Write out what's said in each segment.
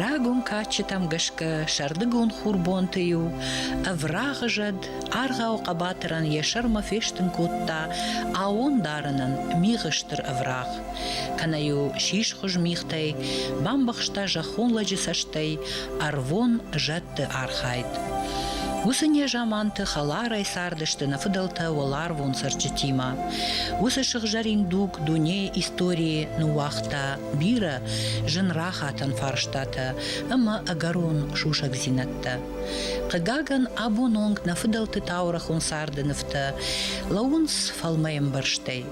Рагон кадджытӕм гӕсгӕ сӕрдыгон хурбонты-иу ӕврагъы зӕд аргъау хъӕбатырӕн йӕ сӕрмӕ фестын кодта аон дарынӕн мигъы стыр ӕврагъ. Кӕнӕ-иу сисхуыз мигътӕй бамбӕхста зӕххон лӕджы цӕстӕй ӕрвон зӕд хъуыддӕгты архайд. Уыцы незаманты хӕларӕй цардысты нӕ фыдӕлтӕ уӕларвон цӕрджытимӕ. Уыцы сыгъзӕрин дуг дунейы историйы ныууагъта бирӕ зын рахатӕн фарстатӕ ӕмӕ ӕгӕрон сусӕгдзинӕдтӕ. Хъыгагӕн, абон онг нӕ фыдӕлты таурӕхъон царды нывтӕ лӕууынц фӕлмӕӕмбӕрзтӕй.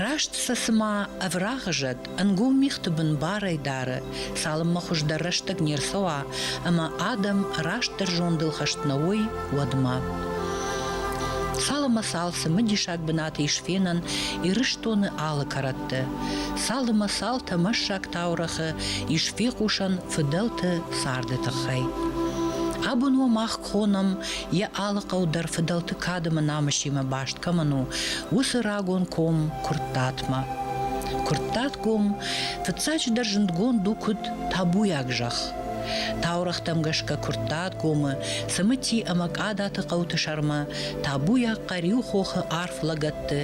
Раст сӕ цыма ӕврагъы зӕд Ӕнгом мигъты бын барӕй дары, цалынмӕ хуыздӕр рӕстӕг не рцӕуа ӕмӕ адӕм растдӕр зондыл хӕст нӕ уой, уӕдмӕ. Цал ӕмӕ цал цымыдисаг бынаты ис фенӕн Ирыстоны алы кӕрӕтты. Цал ӕмӕ цал тӕмӕссаг таурӕгъы ис фехъусӕн фыдӕлты царды тыххӕй. Абон уӕ мах хонӕм йӕ алы хъӕу дӕр фыдӕлты кадымы намысимӕ баст кӕмӕн у, уыцы рагон ком Куырттатмӕ. Куырттатгом, фыццаджыдӕр, зындгонд у куыд табуйаг зӕхх. Таурӕгътӕм гӕсгӕ Куырттатгомы, Цымыти ӕмӕ Къадаты хъӕуты сӕрмӕ табуйаг Хъӕриу хохы арф лӕгӕтты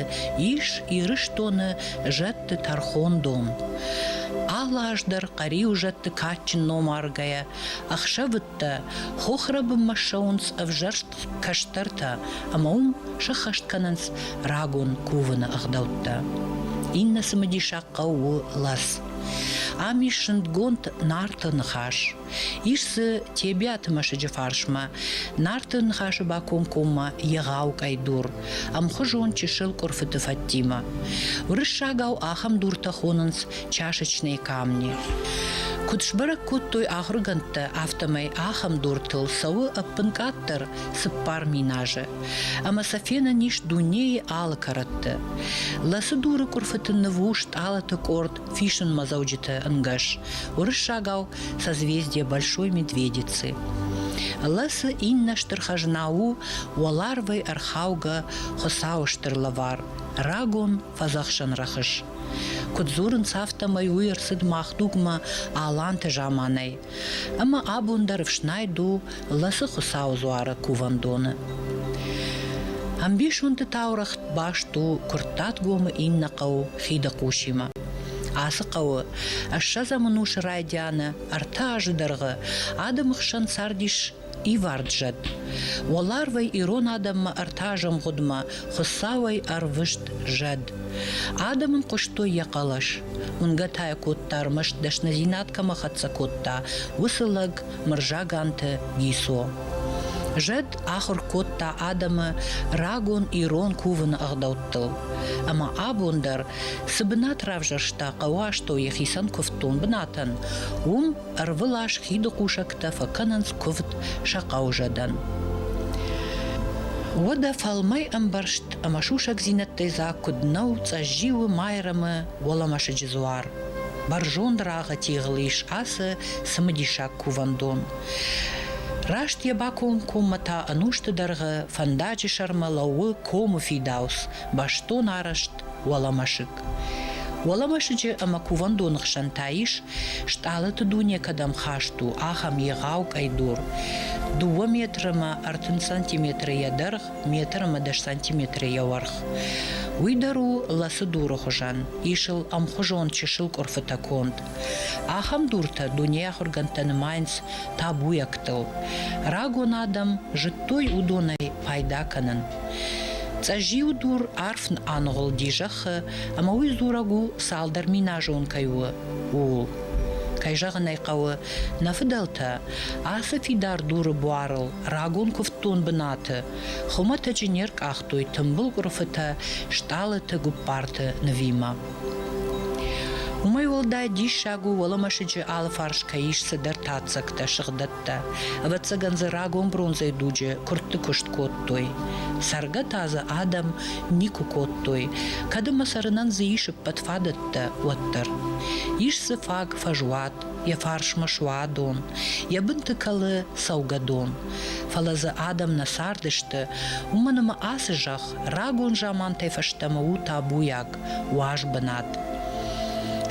ис Ирыстоны зӕдты тӕрхондон. Алы аз дӕр Хъӕриу зӕдты кадджын ном аргӕйӕ ӕхсӕвы хӕдзӕрттӕ, хохры бынмӕ ссӕуынц ӕвзӕрст кӕстӕртӕ ӕмӕ уым сӕххӕст кӕнынц рагон кувыны ӕгъдӕуттӕ. Иннӕ цымыдисаг хъӕу у Лас. Ам ис зындгонд Нарты ныхас. Ис дзы Тебиаты мӕсыджы фарсмӕ, Нарты ныхасы бакомкоммӕ егъау къӕйдур, ӕмхуызон чысыл къуырфыты фӕдтимӕ. Уырыссагау ахӕм дуртӕ хонынц чашечные камни. Куыд сбӕрӕг кодтой ахуыргӕндтӕ, афтӕмӕй ахӕм дортыл цӕуы ӕппынкъаддӕр цыппар минажы. Ӕмӕ сӕ фенӕн ис дунейы алы кӕрӕтты. Лӕсы дуры къуырфыты нывус тъалаты къорд фисынмӕдзӕуджыты ӕнгӕс, уырыссагау созвездие Большой Медведицы. Лӕсы иннӕ стыр хӕзна у уӕларвӕй ӕрхаугӕ Хуыцауы стыр лӕвар, рагон фӕдзӕхсӕн рӕхыс. Куыд дзурынц, афтӕмӕй уый ӕрцыд мах дугмӕ аланты заманӕй. Ӕмӕ абон дӕр ӕфснайд у Лӕцы Хуыцауы дзуары кувӕндоны. Ӕмбисонды таурӕгъ баст у Куырттатгомы иннӕ хъӕу Хидыхъусимӕ. Ацы хъӕуы ӕссӕдзӕм ӕнусы райдианы ӕртӕ азы дӕргъы адӕмы хсӕн цардис ивард зӕд. Уӕларвӕй ирон адӕммӕ ӕртӕазӕмгъуыдмӕ Хуыцауӕй ӕрвыст зӕд. Адӕм ын хъуыстой йӕ хъӕлӕс. Уынгӕ та йӕ кодта ӕрмӕст дӕсныдзинад кӕмӕ хӕццӕ кодта, уыцы лӕг Мырзаганты Гисо. Зӕд ахуыр кодта адӕмы рагон ирон кувыны ӕгъдӕуттыл. Ӕмӕ абон дӕр цы бынат равзӕрста хъӕуастӕу йӕхицӕн куывддон бынатӕн, уым Ӕрвылаз хиды хъусӕгтӕ фӕкӕнынц куывд сӕ хъӕузӕдӕн. Уӕдӕ фӕлмӕй ӕмбӕрзт ӕмӕ сусӕгдзинӕдтӕй дзаг куыд нӕу Цъӕззиуы, Майрӕмы, Уӕлӕмӕсыджы дзуар. Бӕрзонд рагъы тигъыл ис ацы цымыдисаг кувӕндон. Раст йӕ бакомкоммӕ та ӕнусты дӕргъы фӕндаджы сӕрмӕ лӕууы комы фидауц, бӕстон арӕзт Уӕлӕмӕсыг. Уӕлӕмӕсыджы ӕмӕ кувӕндоны хсӕн та ис, стъалыты дуне кӕдӕм хаст у, ахӕм егъау къӕйдур. Дыууӕ метрымӕ ӕртын сантиметрыйӕ дӕргъ, метрымӕ дӕс сантиметрыйӕ уӕрх. Уый дӕр у ласы дуры хуызӕн, ис ыл ӕмхуызон чысыл къуырфытӕ конд. Ахӕм дуртӕ дунейы ахуыргӕндтӕ нымайынц табуйӕгтыл. Рагон адӕм зыдтой уыдонӕй пайда кӕнын. Цъӕззиуы дур арф аныгъуылди зӕххы, ӕмӕ уый дзурӕг у, цалдӕр миназон кӕй у, ууыл. Кӕй зӕгъын ӕй хъӕуы, нӕ фыдӕлтӕ арфы фидар дуры буарыл рагон куывддон бынаты хуымӕтӕджы не ркъахтой тымбыл къуырфытӕ стъалыты гуыппарты нывимӕ. Уымӕй уӕлдай диссаг у, уӕлӕмӕсыджы алыфарс кӕй ис цыдӕр таццӕгтӕ сыгъдӕг кодта. Ӕвӕццӕгӕн дзы рагон бронзӕйы дуджы куыртты куыст кодтой. Цӕргӕ та дзы адӕм никуы кодтой, кӕд ӕмӕ цӕрынӕн дзы ис ӕппӕт фадӕттӕ, уӕддӕр. Ис дзы фаг фӕзуат, йӕ фарсмӕ суадон, йӕ бынты кӕлы цӕугӕдон. Фӕлӕ дзы адӕм нӕ цардысты, уымӕн ӕмӕ ацы зӕхх рагон замантӕй фӕстӕмӕ у табуйаг, уаз бынат.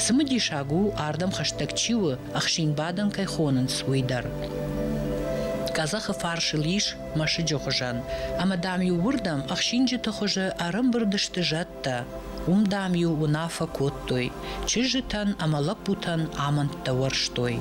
Цымыдисаг у, ардӕм хӕстӕг чи у, ӕхсинбадӕн кӕй хонынц, уый дӕр. Къӕдзӕхы фарсыл ис мӕсыджы хуызӕн, ӕмӕ дам-иу уырдӕм ӕхсинджыты хуызы ӕрӕмбырд сты зӕдтӕ. Уым, дам-иу уынаффӕ кодтой, чызджытӕн ӕмӕ лӕппутӕн амӕндтӕ уӕрстой.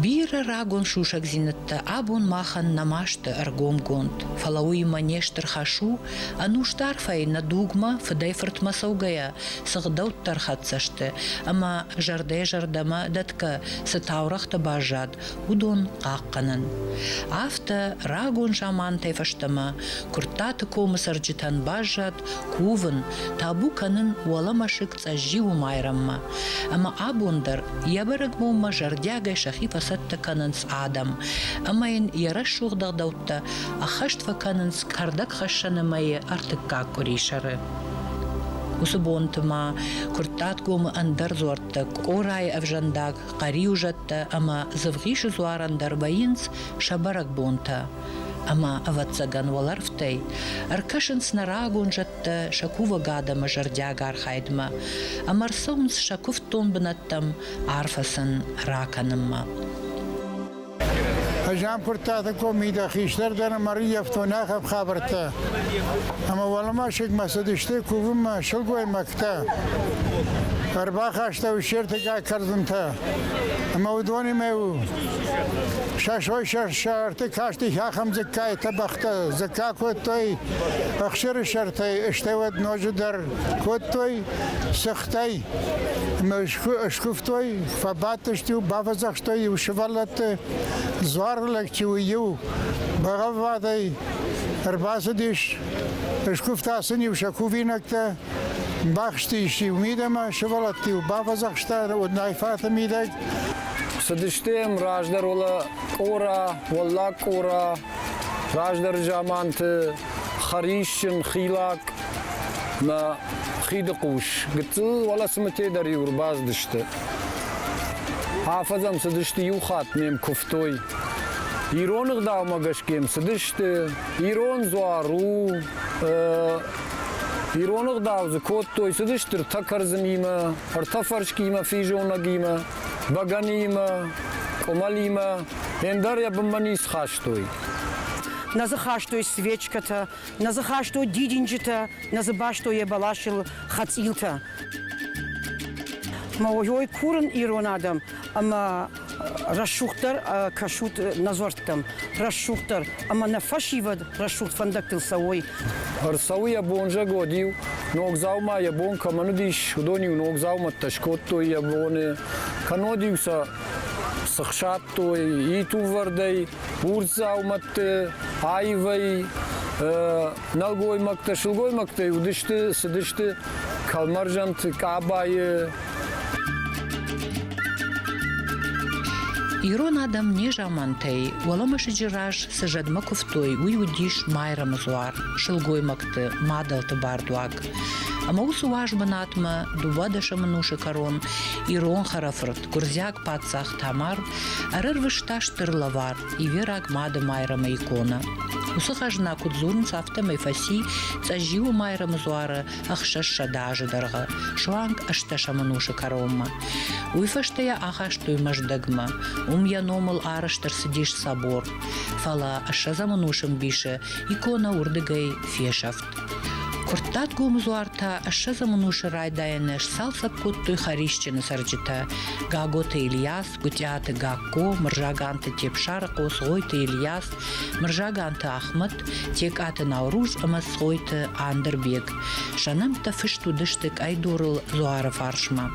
Бирӕ рагон сусӕгдзинӕдтӕ абон махӕн нӕма сты ӕргомгонд, фӕлӕ уыимӕ не стыр хӕс у Ӕнусдаргъфӕй нӕ дугмӕ, фыдӕй-фыртмӕ цӕугӕйӕ, цы гъдӕуттӕ ӕрхӕццӕ сты ӕмӕ зӕрдӕ-зӕрдӕмӕ дӕтгӕ цы таурӕгътӕ баззад, уыдон хъахъхъӕнын. Афтӕ рагон замантӕй фӕстӕмӕ Куырттаты комы цӕрджытӕн баззад кувын, табу кӕнын уӕлӕмӕсыг Цъӕззиуы майрӕммӕ. Ӕмӕ абон дӕр йӕ бӕрӕгбонмӕ зӕрдиагӕй сӕхи фӕцӕттӕ кӕнынц адӕм ӕмӕ йын йӕ рӕсугъд ӕгъдӕуттӕ ӕххӕст фӕкӕнынц кӕрдӕгхӕссӕны мӕйы ӕртыккаг къуырисӕры. Уыцы бонты ма Куырттатгомы ӕндӕр дзуӕрттӕ Къорайы ӕвзӕндаг, хъӕриуызӕттӕ ӕмӕ Дзывгъисы дзуарӕн дӕр вӕййынц сӕ бӕрӕгбонтӕ. Ӕмӕ, ӕвӕццӕгӕн, уӕлӕрвтӕй ӕркӕсынц нӕ рагон зӕдтӕ бынӕттӕ сӕ кувӕг адӕмы зӕрдиаг архайдмӕ ӕмӕ ӕрцӕуынц сӕ куывддон бынӕттӕм арфӕ ракӕнынмӕ. Жампуртаты комитӕ хистӕр дӕр ӕмӕ риефтонӕхӕп хабӕрттӕ. Ӕмӕ уӕлмасӕгмӕ цыдысты кувынмӕ сылгоймӕгтӕ. Ӕрбахаста ущертыккаг кӕрдзынтӕ. Ӕмӕ уыдонимӕ у сӕ сой сӕрты касти ахӕм дзыккайтӕ бӕхтӕ дзыкка кодтой, Ӕхсӕрсӕртӕй, стӕй уӕд ноджы дӕр кодтой сыхтӕй. Ӕмӕ скуывтой, фӕбадтысты, бафӕдзӕхстой иу сывӕллӕтты, дзуар лӕг чи у иу, бӕгъӕввадӕй ӕрбацыдис, скуывта сын-иу сӕ кувинӕгтӕ, бахстис-иу мидӕмӕ, сывӕллӕтты-иу бафӕдзӕхста, уыд найфӕты мидӕг. Цыдысты раздӕр уӕлӕ къора, уӕллаг къора, Раздӕр заманты хӕрисджын, хилак мӕ хиды хъус гыццыл уӕлӕсымытӕ дӕр-иу ӕрбацыдысты. Афӕдзӕм цыдысты иу хатт ме мкуывтой. Ирон ӕгъдаумӕ гӕсгӕ м цыдысты, ирон дзуар у, ирон ӕгъдау дзы кодтой, цыдысты ӕртӕ кӕрдзынимӕ, ӕртӕ фӕрскимӕ, физонӕгимӕ. бӕгӕныимӕ, къуымӕлимӕ, ӕндӕр йӕ бынмӕ ницы хастой. Нӕ дзы хастой свечкӕтӕ, нӕ дзы хастой дидинджытӕ, нӕ дзы бастой йӕ бӕласыл хӕцъилтӕ. Мӕ ой курын ирон адӕм ӕмӕ рӕсугъддӕр кӕсут нӕ дзуӕрттӕм, рӕсугъддӕр ӕмӕ нӕ фӕсивӕд рӕсугъд фӕндӕгтыл цӕуой. Ӕрцӕуы йӕ бонзӕгод-иу, ног дзаума йӕ бон кӕмӕн уыдис, уыдон-иу ног дзаумӕттӕ скодтой йӕ боны, кӕннод-иу сӕ сыхсадтой итувӕрдӕй, урс дзаумӕтты, аивӕй, нӕлгоймӕгтӕ, сылгоймӕгтӕй уыдысты, цыдысты кӕлмӕрзӕнты, къабайы, Ирон адӕм незамантӕй уӕлӕмӕсыджы раз цы зӕдмӕ куывтой, уый уыдис майрӕмдзуар, сылгоймӕгты мадӕлты бардуаг. Ӕмӕ уыцы уаз бынатмӕ дыууӕ дӕсӕмӕнусы кӕрон ирон хӕрӕфырт, гуырдзиаг паддзах Тамар ӕрӕрвыста стыр лӕвар ивераг мады майрӕмы икона. Уыцы хӕзна куыд дзурынц, афтӕмӕй фӕци Цъӕззиуы майрӕмы дзуары ӕхсӕссӕдӕ азы дӕргъы суанг ӕстдӕсӕм ӕнусы кӕронмӕ. Уый фӕстӕ йӕ ахастой Мӕздӕгмӕ. Уым йӕ номыл арӕзт ӕрцыдис собор. Фӕлӕ ссӕдзӕм ӕнусы мбисы иконӕ уырдыгӕй фесӕфт. Куырттат гомдзуар та ссӕдзӕм ӕнусы райдайӕны сцалцӕг кодтой Хӕрисджыны цӕрджытӕ Гаготы Ильяс, Гуытъиаты Гакко, Мырзаганты Тепсарыхъо, Цгъойты Ильяс, Мырзаганты Ахмӕт, Текъаты Науруз ӕмӕ Цгъойты Андырбег. Сӕ нӕмттӕ фыст уыдысты къӕйдурыл дзуары фарсмӕ.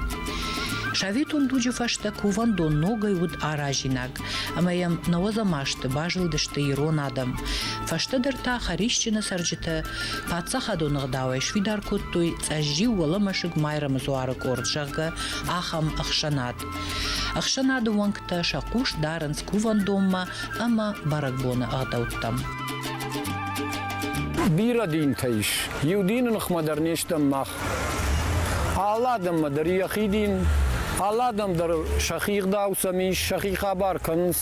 Советон дуджы фӕстӕ кувӕндон ногӕй уыд аразинаг, ӕмӕ йӕм науӕдзӕмасты базылдысты ирон адӕм. Фӕстӕдӕр та хӕрисджыны цӕрджытӕ паддзахадон ӕгъдауӕй сфидар кодтой цъӕззиу уӕлӕмӕсыг Майрӕмы дзуары къорд, зӕгъгӕ, ахӕм ӕхсӕнад. Ӕхсӕнады уӕнгтӕ сӕ хъус дарынц кувӕндонмӕ ӕмӕ бӕрӕгбоны ӕгъдӕуттӕм. Бирӕ динтӕ ис. Иу дины ныхмӕ дӕр не стӕм мах. Алы адӕммӕ дӕр йӕхи дин, алы адӕм дӕр сӕхи ӕгъдау сӕм ис, сӕхи хабар кӕнынц.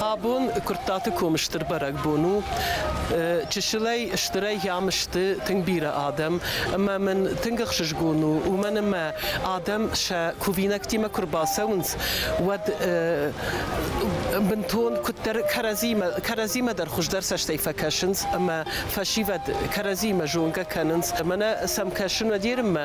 Абон Куырттаты комы стыр бӕрӕгбон у. Чысылӕй стырӕй йӕм сты тынг бирӕ адӕм, ӕмӕ мын тынг ӕхсызгон у, уымӕн ӕмӕ адӕм сӕ кувинӕгтимӕ куы рбацӕуынц, уӕд бынтон куыддӕр кӕрӕдзимӕ, кӕрӕдзимӕ дӕр хуыздӕр цӕстӕй фӕкӕсынц ӕмӕ фӕсивӕд кӕрӕдзимӕ зонгӕ кӕнынц. Мӕнӕ сӕм кӕсын Уӕдерынмӕ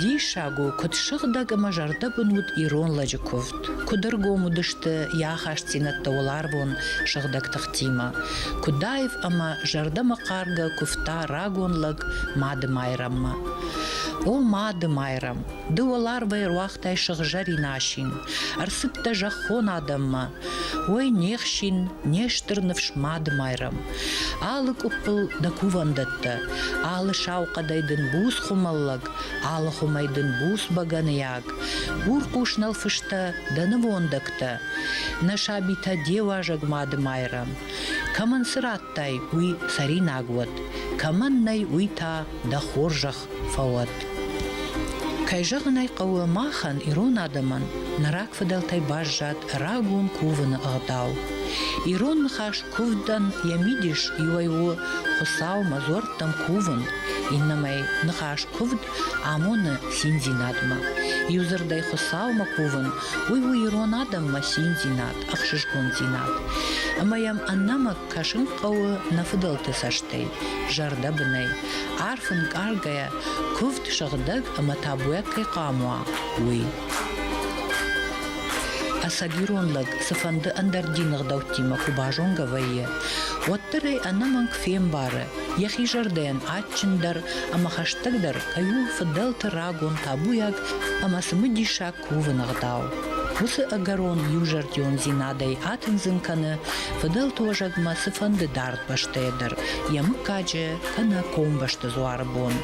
Диссаг у, куыд сыгъдӕг ӕмӕ зӕрдӕбын уыд ирон лӕджы куывд. Куыд ӕргом уыдысты йӕ ахастдзинӕдтӕ уӕларвон сыгъдӕг тыхтимӕ. Куыдаев ӕмӕ зӕрдӕмӕхъаргӕ куывта рагон лӕг Мады Майрӕммӕ. О, Мады Майрӕм, ды уӕларвӕй ӕруагътай сыгъзӕрин асин. Ӕрцыдтӕ зӕххон адӕммӕ, Ой, не хсин, не стыр ныфс Мадымайрӕм! Алы къуыппыл дӕ кувӕндӕттӕ, алы сау хъӕдӕй дын буц хуымӕллӕг, алы хуымӕй дын буц бӕгӕныйаг. Урхъус нӕлфыстӕ дӕ нывондӕгтӕ, нӕ сабитӕ де уазӕг Мадымайрӕм. Кӕмӕн цы радтай, уый цӕринаг уӕд, кӕмӕн нӕй, уый та дӕ хорзӕх фӕуӕд. Кӕй зӕгъын ӕй хъӕуы, махӕн, ирон адӕмӕн, нӕ рагфыдӕлтӕй баззад рагон кувыны ӕгъдау. Ирон ныхас куывдӕн йӕ мидис иуӕй у Хуыцаумӕ дзуӕрттӕм кувын, иннӕмӕй ныхас куывд амоны циндзинадмӕ. Иу дзырдӕй Хуыцаумӕ кувын, уый у ирон адӕммӕ циндзинад, ӕхсызгондзинад. Ӕмӕ йӕм ӕнӕмӕнг кӕсын хъӕуы нӕ фыдӕлты цӕстӕй, зӕрдӕбынӕй. Арф ӕнкъаргӕйӕ, куывд, сыгъдӕг ӕмӕ табуйаг кӕй хъуамӕ уа, уый. Ӕцӕгирон лӕг цыфӕнды ӕндӕр дины гъдӕуттимӕ куы базонгӕ вӕййы, уӕддӕр ӕй ӕнӕмӕнг фембары, йӕхи зӕрдӕйӕн адджындӕр ӕмӕ хӕстӕгдӕр кӕй у фыдӕлты рагон табуйаг ӕмӕ цымыдисаг кувын ӕгъдау. Уыцы ӕгӕрон иузӕрдиондзинадӕй атындзын кӕны фыдӕлты уӕзӕгмӕ цыфӕнды дард бӕстӕйӕ дӕр йӕ мыггаджы кӕнӕ комбӕсты дзуары бон.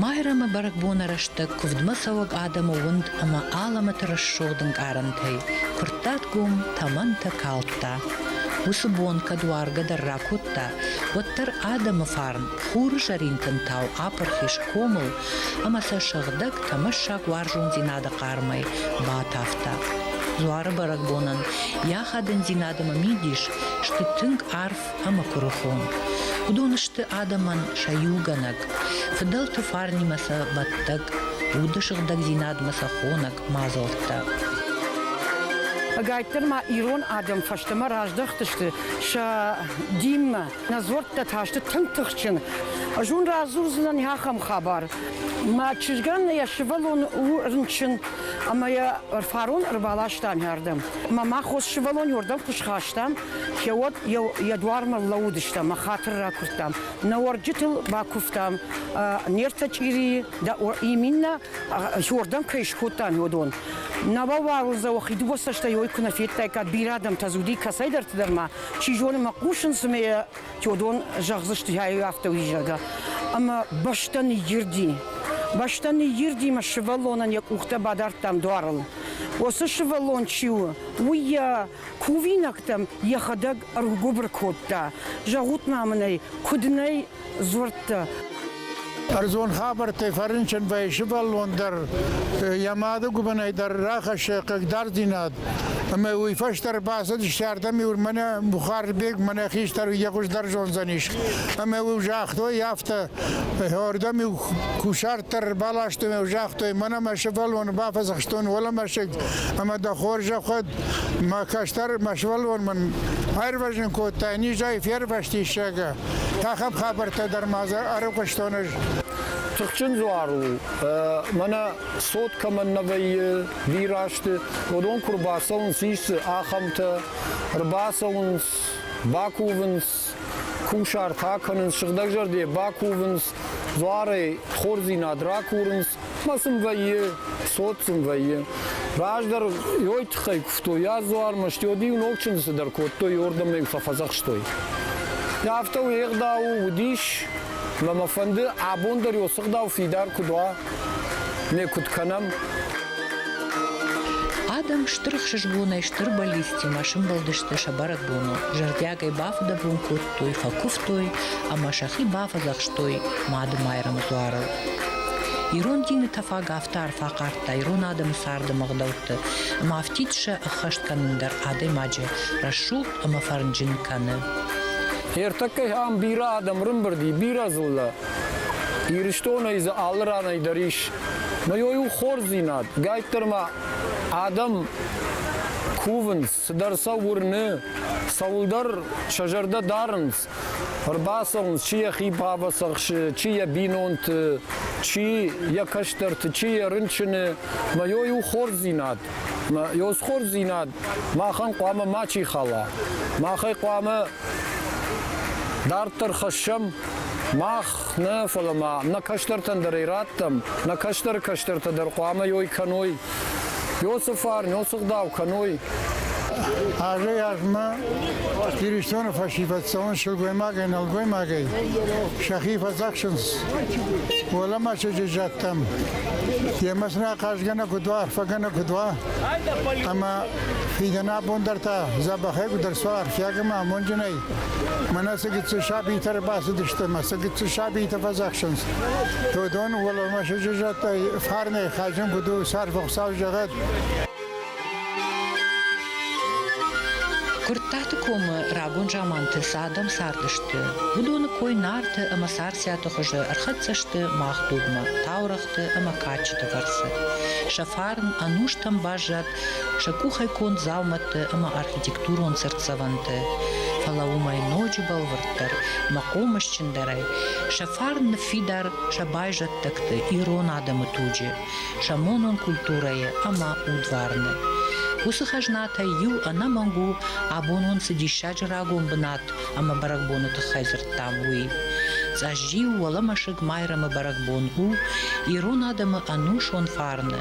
Майрӕмы бӕрӕгбоны рӕстӕг куывдмӕ цӕуӕг адӕмы уынд ӕмӕ алӕмӕты рӕсугъд ӕнкъарӕнтӕй куырттат гом тӕмӕнтӕ калдта. Уыцы бон кӕд уаргӕ дӕр ракодта, уӕддӕр адӕмы фарн Хуры зӕрин тынтау апырхис комыл ӕмӕ сӕ сыгъдӕг тӕмӕссаг уарзондзинады хъармӕй батавта. Дзуары бӕрӕгбонӕн йӕ хӕдындзинад ӕмӕ мидис сты тынг арф ӕмӕ куырыхон. Уыдон сты адӕмӕн сӕ иугӕнӕг, фыдӕлты фарнимӕ сӕ бӕттӕг, уды сыгъдӕгдзинадмӕ сӕ хонӕг мадзӕлттӕ. Ӕгайтдӕр ма ирон адӕм фӕстӕмӕ раздӕхтысты сӕ динмӕ. Нӕ дзуӕрттӕ та сты тынг тыхджын. Ӕз уын радзурдзынӕн ахӕм хабар. Мӕ чызгӕн йӕ сывӕллон у рынчын ӕмӕ йӕ фарон ӕрбаластам ардӕм. Ӕмӕ мах хос сывӕллоны уырдӕм куы схастам, уӕд йӕ дуармӕ лӕууыдыстӕм ӕмӕ хатыр ракуырдтам. Нӕ уӕрджытыл бакуывтам, не ртӕ чъирийы дӕ иминнӕ уырдӕм кӕй скодтам, уыдон. Нӕ уӕ уарзӕуы, хи дыууӕ цӕстӕй уой куы нӕ федтаиккат, бирӕ адӕмтӕ дзы уыди кӕцӕйдӕрты дӕр ма, Чи зоны, мӕ хъусын цымӕ йӕ Теодон зӕгъдзысты, афтӕ уый, зӕгъгӕ. Ӕмӕ бӕстӕ ныйирди. Бӕстӕ ныйирди ӕмӕ сывӕллонӕн йӕ къухтӕ бадардтам дуарыл. Уыцы сывӕллон чи у, уый йӕ кувинӕгтӕм йӕхӕдӕг ӕргуыбыр кодта. Зӕгъут-ма мын ӕй, куыд нӕй дзурдтӕ. Ӕрдзон хабӕрттӕй фӕрынчынвӕййы сывӕллон дӕр йӕ мады гуыбынӕй дӕр рахӕссы хъыгдарддзинад. Ӕмӕ уый фӕстӕ ӕрбацыдысты ардӕм иур мӕнӕ Бухарбег, мӕнӕ хистӕр йӕ хуыздӕр зондзӕнис. Ӕмӕ уый загътой афтӕ, ӕрдӕм иу кусарт баластой ӕмӕ загътой, мӕнӕ мӕ сывӕллоны бафӕдзӕхстон уӕлӕмӕсыг ӕмӕ дӕ хорзӕхуӕд мӕ кӕстӕр мӕ сывӕллон мын аирвӕзын кодта, низӕй фервӕзтис, зӕгъгӕ. Ахӕм хабӕрттӕ дӕр ма дзы ӕрыхъуыстон ӕз. Тыхджын дзуар у. Мӕнӕ цот кӕмӕн нӕ вӕййы бирӕсты, уыдон куы рбацӕуынц, ис ахӕмтӕ, ӕрбацӕуынц, бакувынц, кусарт акӕнынц, сыгъдӕгзӕрдӕ бакувынц, Дзуарӕй хорздзинад ракурынц мӕ сын вӕййы, цот сын вӕййы. Раздӕр йой тыххӕй куывтой йӕ дзуармӕ, стӕй-иу ног чындзы цыдӕр кодтой, уырдӕм-иу фӕфӕдзӕхстой. Афтӕ уӕгъдау уыдис, мӕ мӕ фӕнды абон дӕр йо сыгъдау фидар куыд уа, ме куыд кӕнӕм. Адӕм стыр ӕхсызгонӕй стыр бӕллицтимӕ сымбӕлдысты сӕ бӕрӕгбоныл, зӕрдиагӕй бафыдӕбон кодтой фӕкуывтой, фӕкуывтой ӕмӕ сӕхи бафӕдзӕхстой Мадымайрӕмы дзуарыл. Ирон дины тӕфаг афтӕ арфӕ хъардта ирон адӕмы царды мгъдӕутты, ӕмӕ афтид сӕ ӕххӕст кӕнын дӕр адӕймаджы рӕсугъд ӕмӕ фӕрнджын кӕны. Ӕртӕккӕ ам бирӕ адӕм рымбырди, бирӕ дзыллӕ. Ирыстонӕй дзы алы ранӕй дӕр ис. Мыйой у хорздзинад. Гайддӕр ма адӕм кувынц, Цыдӕр сӕ уырны, цӕуылдӕр сӕ зӕрдӕ дарынц. Ӕрбацӕуынц, чи йӕхи бабасы ахсы, чи йӕ бинонты, чи йӕ кӕстӕрты, чи йӕ рынчыны. Мӕ йой у хорздзинад. Мӕ йой схорздзинад махӕн хъуамӕ мачи хала. Махӕй хъуамӕ дарддӕр хӕссӕм мах Нӕ, фӕлӕ ма нӕ кӕстӕртӕн дӕр ӕй раттӕм, нӕ кӕстӕры кӕстӕртӕ дӕр хъуамӕ йой кӕной. Иосифар, ноцыгъдау кӕной. Азӕй-азмӕ Иристоны фӕсивӕддзӕуон сылгоймагӕй-нӕлгоймагӕй сӕхи фӕдзӕхсынц. Уӕлӕмӕсыджы зӕдтӕм емӕ сын ахъазгӕнӕг уыд уа, арфӕгӕнӕг уыд уа, ӕмӕ фидӕнӕбон дӕр та дзӕбӕхӕй гуыдӕрцуа архиаг ӕмӕ амонджынӕй. Мӕнӕ цы гыццыл сабитӕ ӕрбацыдысты ӕмӕ цы гыццыл сабитӕ фӕдзӕхсынц. Додон уӕлӕмӕсыджы зӕдтӕй фарнӕй хъазын куыд у сӕрвӕхсау зӕгъӕд. Куырттаты комы рагон заманты цы адӕм цардысты, уыдоны кой нарты ӕмӕ царциаты хуызы ӕрхӕццӕ сты мах дугмӕ, таурӕгъты ӕмӕ кадджыты фӕрцы. Сӕ фарн ӕнустӕм баззад сӕ къухӕй конд дзаумӕттӕ ӕмӕ архитектурон цыртдзӕвӕнтӕ, фӕлӕ уымӕй ноджы бӕлвырддӕр ӕмӕ хъомысджындӕрӕй сӕ фарн ныффидар сӕ байзӕддӕгты ирон адӕмы туджы, сӕ монон культурӕйы ӕмӕ удварны. Уыцы хӕзнатӕй иу ӕнӕмӕнг у, абонон цы диссаджы рагон бынат ӕмӕ бӕрӕгбоны тыххӕй дзырдтам, уый. Цъӕзджиу уӕлӕмӕсыг Майрӕмы бӕрӕгбон у ирон адӕмы ӕнусон фарны,